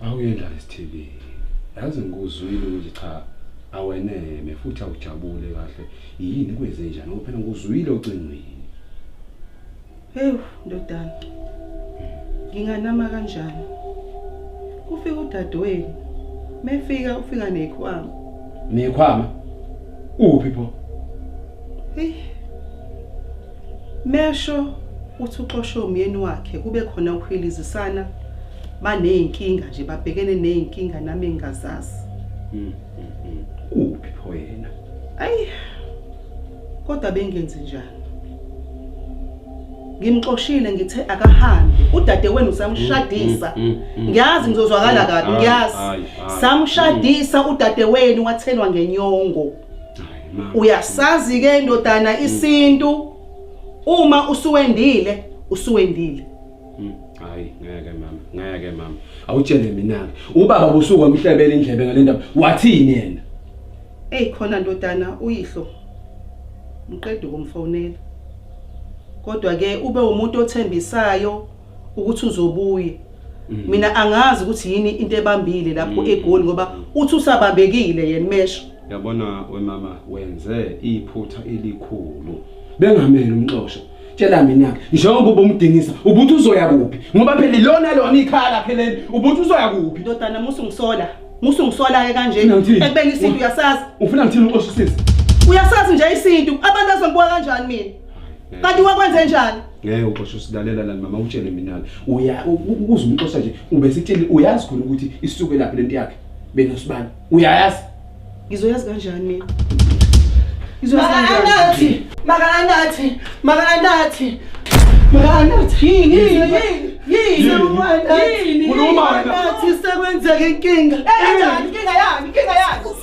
Awuyendlala isithibeni. Yazi ngikuzwile ukuthi cha aweneme futhi awujabule kahle. Yini kwenze njani? Ngoba phela ngikuzwile ocingweni. Hewu ndodana. Nginganama kanjani? Kufika udadewenu. Mefika ufika nekhwama. Nekhwama? Uphi pho? Hey. Mesho uthi uxoshe umyeni wakhe kube khona ukuhilizisana baneyinkinga nje babhekene neyinkinga nami engazazi. Mhm. Uphi pho yena? Ayi. Kodwa bengenzi njani? Ngimxoshile ngithe akahambe. Udade wenu samshadisa. Mm, mm, mm, ngiyazi ngizozwakala kabi, ngiyazi. Samshadisa udade wenu wathelwa ngenyongo. uyasazi ke indodana mm. isintu uma usuwendile usuwendile mm. hayi ngeke mama ngeke mama awutshele mina ke ubaba usuka umhlebela indlebe ngalendaba wathini yena hey khona ndodana uyihlo ngiqeda ukumfonela kodwa ke ube umuntu othembisayo ukuthi uzobuya mm. mina angazi ukuthi yini into ebambile lapho mm. egoli ngoba uthi usabambekile yena mesho yabona wemama wenze iphutha elikhulu bengamele umxosho tshela mina njengoba ubumdingisa ubuthi uzoya kuphi ngoba phela lona lona ikhaya lakhe leli ubuthi uzoya kuphi ndodana musu ngisola musu ngisola ke kanje ekubeni isintu uyasazi ufuna ngithini uxoshisise uyasazi nje isintu abantu azongibuka kanjani mina kanti wakwenze njani ngeke uxoshe usilalela lani mama utshele mina uya ukuze umxosha nje ube sitshele uyazi khona ukuthi isuke laphi lento yakhe bena sibani uyayazi ngizoyazi kanjani mina Makanathi, makanathi, makanathi. Makanathi. Yini, yini, yini. Yini, yini. Makanathi sekwenzeka inkinga. Eh, inkinga yani, inkinga yani.